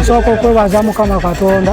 nsooka okwebaza mukama katonda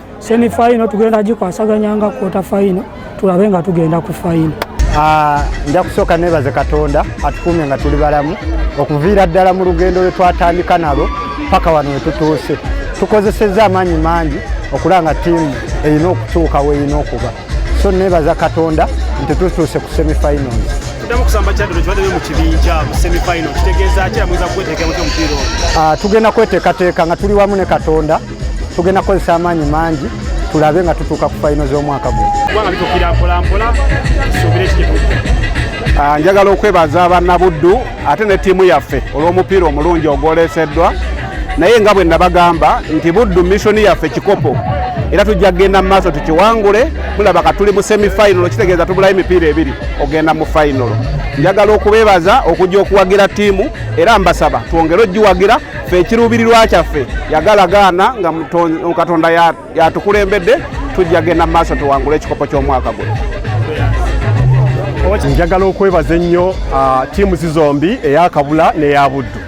semi final tugenda gikwasaganya nga quarter final tulabe nga tugenda ku final ah, nja kusooka nebaze katonda atukuumye nga tuli balamu okuviira ddala mu lugendo lwe twatandika nalwo paka wano wetutuuse tukozesezza amaanyi mangi okulanga tiimu erina okutuuka werina okuba so nebaza katonda nti tutuuse ku semi finals tuddamu kusamba kyaddo kibadde mu kibinja mu semifinal kitegeeza ki amuyinza kukweteeka mutya omupiira ogwo ah, tugenda kweteekateeka nga tuli wamu ne katonda tugenda kukozesa amaanyi mangi tulabe nga tutuuka ku fayino z'omwaka guno kubanga bitukira mpolampola tusuubire ekitetuuka ah, njagala okwebaza bannabuddu ate ne ttiimu yaffe olw'omupiira omulungi ogwoleeseddwa naye nga bwe nabagamba nti buddu missoni yaffe kikopo era tujja kugenda mu maaso tukiwangule mulaba ka tuli mu semifinalo kitegeeza tubulayo emipiira ebiri ogenda mu finalo njagala okubeebaza okujja okuwagira ttiimu era mbasaba twongere ogiwagira fe ekiruubirirwa kyaffe yagala gaana nga katonda yatukulembedde tujja genda mu maaso tuwangule ekikopo ky'omwaka guno njagala okwebaza ennyo uh, tiimu zizombi eyakabula n'eya buddu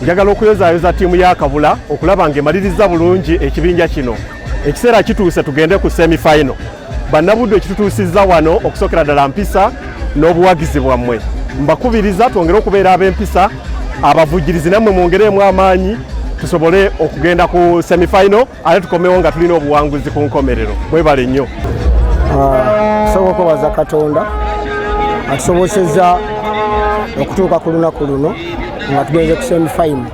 njagala okuyozayoza tiimu ya kabula okulaba ng'emaliriza bulungi ekibinja kino ekiseera kituuse tugende ku semifinal bannabuddu ekitutuusizza wano okusookera ddala mpisa n'obuwagizi bwammwe mbakubiriza twongere okubeera ab'empisa abavujjirizi nammwe mwongereemu amaanyi tusobole okugenda ku semifinal ate tukomewo nga tulina obuwanguzi ku nkomerero mwebale nnyo ah, tusobola okwebaza katonda atusoboseza okutuuka ku lunaku luno nga tugenze ku semifinal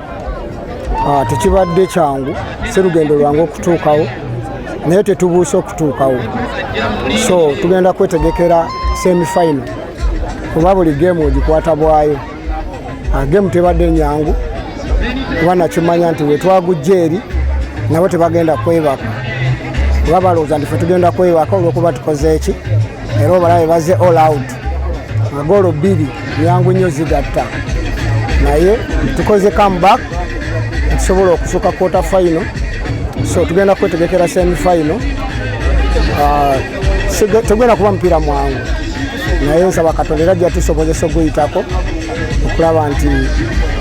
ah, tekibadde kyangu si lugendo lwange okutuukawo naye tetubuuse okutuukawo so tugenda kwetegekera semifino kuba buli geemu ogikwata bwayo ah, geemu tebadde nyangu kuba nakimanya nti wetwagujja eri nabo tebagenda kwebaka kuba balowooza nti fe tugenda kwebaka olwokuba tukoze eki era obalabe baze all out magoolo bbiri nyangu nnyo zigatta naye tukoze comeback tusobola okusuka quarter final so tugenda kwetegekera semi final ah, tegenda kuba mupiira mwangu naye nsaba katonda era jja tusobozesa oguyitako okulaba nti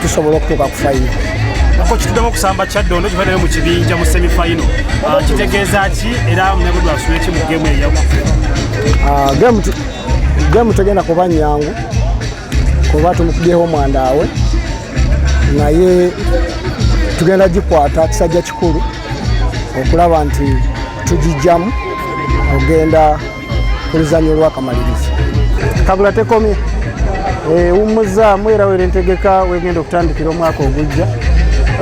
tusobola okutuuka ku final ako kituddemu okusamba kyaddondo kivaddeyo mu kibinja mu semi final ah, kitegeeza ki era munabudwasula eki mu gemu eyaku ah, gemu tegenda kuba nyangu kuba tumukubyeho omwandaawe naye tugenda gikwata kisajja kikulu okulaba nti tugijjamu ogenda ku luzannya olwakamaliriza kabula tekomye ewummuzaamu eh, era wera entegeka wegenda okutandikira omwaka ogujja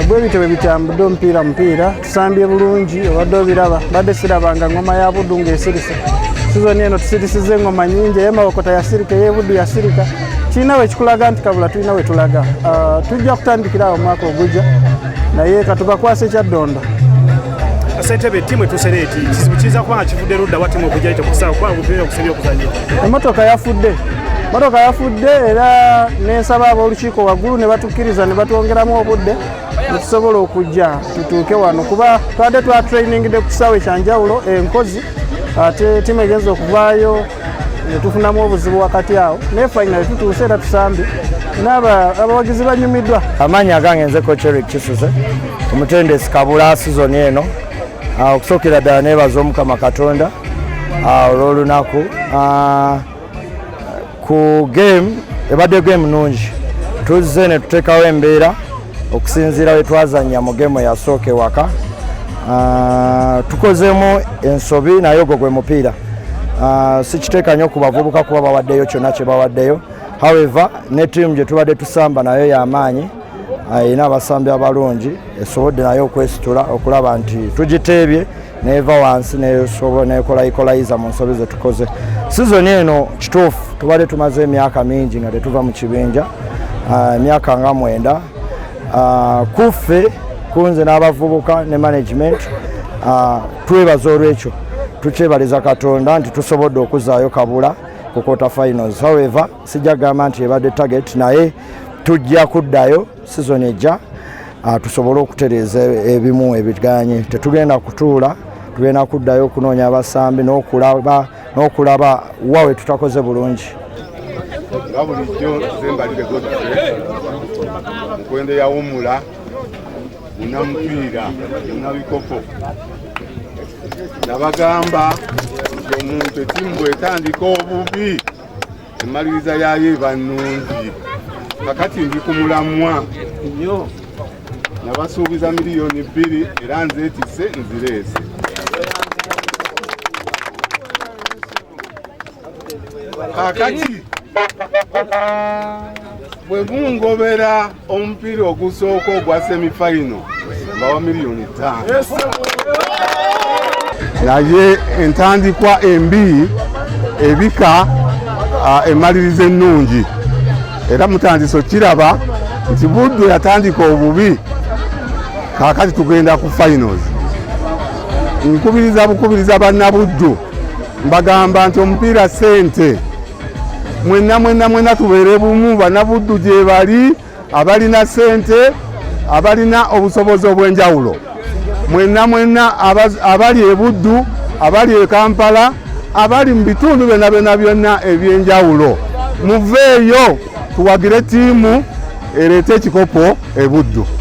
bwe bityo bwe bitambudde omupiira mupiira tusambye bulungi obadde obiraba badde sirabanga ngoma ya buddu ng'esirise sizoni eno tusirisiza engoma nyingi eye mawokota yasirika eye buddu yasirika kirina we kikulaga nti kabula tulina we tulaga ah, tujja kutandikira awo omwaka ogujja naye katubakwasa ekyaddondo sentebe timu etusera eti kizibu kiyinza kuba nga kivudde ludda wa timu okujja tekusaa kuba obupiira okusabye okuzanya emotoka yafudde motoka yafudde era nensaba ab'olukiiko waggulu ne batukkiriza ne batwongeramu obudde netusobola okujja tutuuke wano kuba twade twa training de kusawe kyanjawulo enkozi ate timu egenza okuvaayo netufunamu obuzibu wakati awo naye final tutuuse era tusambye naaba abawagizi banyumiddwa amaanyi agange nze kocherik kisuse omutendesi kabula sizoni eno ah, okusookera ddala nebaza omukama katonda ah, olw'olunaku ah, ku game ebadde game nungi tuzze ne tuteekawo embeera okusinziira we twazannya mu game yasooka ewaka ah, tukozeemu ensobi naye ogwo gwe mupiira ah, sikiteeka nnyo ku bavubuka kuba bawaddeyo kyonna kye bawaddeyo however ne tiimu gye tubadde tusamba nayo y'amaanyi ah, erina abasambi abalungi esobodde naye okwesitula okulaba nti tugiteebye neeva wansi nesobola nekola ikolayiza mu nsobi zetukoze sizoni eno kituufu tubadde tumaze emyaka mingi nga tetuva mu kibinja ah, emyaka nga mwenda ah, kuffe kunze n'abavubuka ne management ah, twebaza olwekyo tukyebaliza katonda nti tusobodde okuzaayo kabula ku quarter finals however sijja kugamba nti ebadde target naye tujja kuddayo sizoni ejja ah, tusobole okutereeza ebimu ebiganye tetugenda kutuula tugenda kuddayo okunoonya abasambi n'okulaba n'okulaba wa we tutakoze bulungi nga bulijjo zembalire godfrey mukwendo yawumula munamupiira munabikopo nabagamba nti omuntu etimu bwetandika obubi emmaliriza yaayo eba nnungi kakati ndi ku mulamwa nyo nabasuubiza miliyoni bbiri era nzeetise nzireese kakati bwe mungobera omupiira ogusooka ogwa semifaino bawa miliyoni ttaano naye entandikwa embi ebika emaliriza ennungi era mutandisa okiraba nti buddu yatandika obubi kakati tugenda ku finals nkubiriza bukubiriza bannabuddu mbagamba nti omupiira sente mwenna mwenna mwenna tubeere bumu banabuddu gye bali abalina sente abalina obusobozi obw'enjawulo mwenna mwenna abali ebuddu abali e kampala abali mu bitundu byonna byonna byonna eby'enjawulo muveeyo tuwagire ttiimu ereeta ekikopo ebuddu